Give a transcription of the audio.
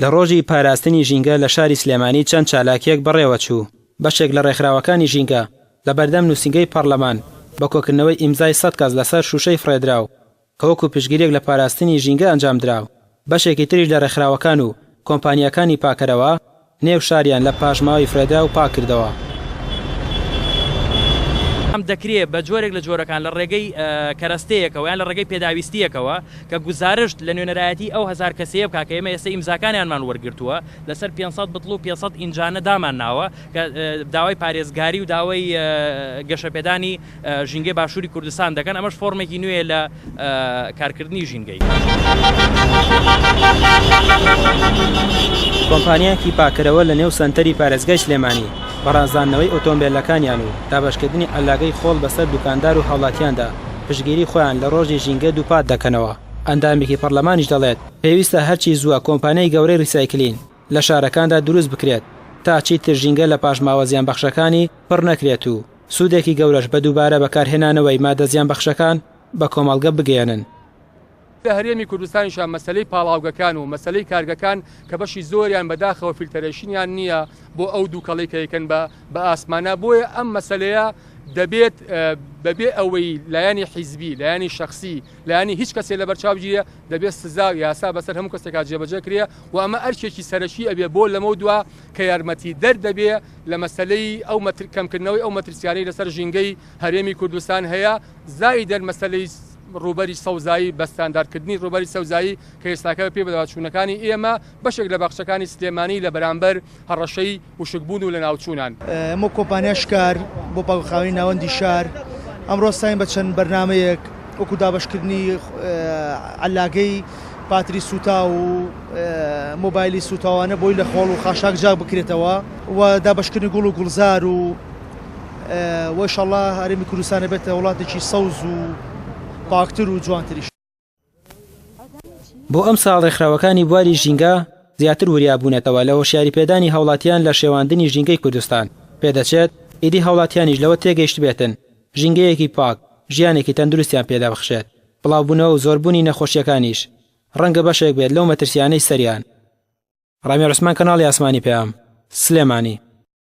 لە ڕۆژی پاراستنی ژینگە لە شاری سلێمانی چەند چالاکییەک بەڕێوەچوو، بەشێک لە ڕێکخراوەکانی ژینگە لە بەردەم نووسینگەی پەڕلەمان بە کۆکردنەوەی ئیمزای سەد کەس لەسەر شووشەی فڕێدراو کە وەکو پشتگیرییەک لە پاراستنی ژینگە ئەنجامدرا، بەشێکی تریش لە ڕێکخراوەکان و کۆمپانیاکانی پاکەرەوە، نێو شاریان لە پاشماوەی فرەدراو پاک کردەوە. ئەم دەکرێت بە جۆرێک لە جۆرەکان لە ڕێگەی کەرەستەیەکەوە یان لە ڕێگەی پێداویستییەکەوە کە گوزارشت لە نوێنەرایەتیی ئەو هەزار کەسەیە بکات کە ئێمە ئێستا ئیمزاکانیانمان وەرگرتووە لەسەر پێنج سەد بتڵ و پێنج سەد ئینجانە دامانناوە کە داوای پارێزگاری و داوای گەشەپێدانی ژینگەی باشووری کوردستان دەکەن، ئەمەش فۆرمێکی نوێیە لە کارکردنی ژینگەی. کۆمپانیایەکی پاککەرەوە لە نێو سەنتەری پارێزگای سلێمانی، بەڕازاندنەوەی ئۆتۆمبێلەکانیان و دابەشکردنی عەللاگەی خۆڵ بەسەر دوکاندار و هاوڵاتیاندا، پشتگیری خۆیان لە ڕۆژی ژینگە دووپات دەکەنەوە. ئەندامێکی پەڕلەمانیش دەڵێت، پێویستە هەرچی زووە کۆمپانیای گەورەی ڕیسایکلین لە شارەکاندا دروست بکرێت، تا چیتر ژینگە لە پاشماوە زیانبەخشەکانی پڕ نەکرێت و سوودێکی گەورەش بە دووبارە بەکارهێنانەوەی مادە زیانبەخشەکان بە کۆمەڵگە بگەیەنن. لە هەرێمی کوردستانیشا مەسەلەی پاڵاوگەکان و مەسەلەی کارگەکان کە بەشی زۆریان بەداخەوە فیلتەرەیشنیان نییە بۆ ئەو دووکەڵەی کە ئەیکەن بە بە ئاسمانا بۆیە ئەم مەسەلەیە دەبێت بە بێ ئەوەی لایەنی حیزبی لایەنی شەخسی لایەنی هیچ کەسێ لە بەرچاو بگیرێ دەبێت سزا و یاسا بەسەر هەموو کەسێکا جێبەجێ کرێ و ئەمە ئەرکێکی سەرەکی ئەبێ بۆ لەمەو دوا کە یارمەتیدەر دەبێ لە مەسەلەی ئەو کەمکردنەوەی ئەو مەترسیانەی لەسەر ژینگەی هەرێمی کوردستان هەیە، زائیدەن مەسەلەی ڕووبەری سەوزایی بە ستانداردکردنی ڕووبەری سەوزایی کە ئێستاکە بەپێی بەدواداچوونەکانی ئێمە بەشێک لە باخچەکانی سلێمانی لە بەرامبەر هەڕەشەی وشکبوون و لەناوچوونان. ئەمەو کۆمپانیا شکار بۆ پاکوخاوێنی ناوەندی شار ئەمڕۆ هەستاین بە چەند بەرنامەیەک وەکو دابەشکردنی عەللاگەی، پاتری سووتاو و مۆبایلی سووتاوانە بۆی لە خۆڵ و خاشاک جاک بکرێتەوە و دابەشکردنی گوڵ و گوڵزار و وە شەڵا هەرێمی کوردستانە بێتە وڵاتێکی سەوز و پاکتر و جوانتریش. بۆ ئەمساڵ ڕێکخراوەکانی بواری ژینگە زیاتر وریا بوونەتەوە لە هۆشیاری پێدانی هاوڵاتیان لە شێواندنی ژینگەی کوردستان، پێدەچێت ئیدی هاوڵاتیانیش لەوە تێگەیشتبێتن ژینگەیەکی پاک، ژیانێکی تەندروستیان پێدەبخشێت. بڵاوبوونەوە و زۆربوونی نەخۆشییەکانیش ڕەنگە بەشێک بێت لەو مەترسییانەی سەریان. ڕامی عوسمان کەناڵی ئاسمانی پەیام، سلێمانی.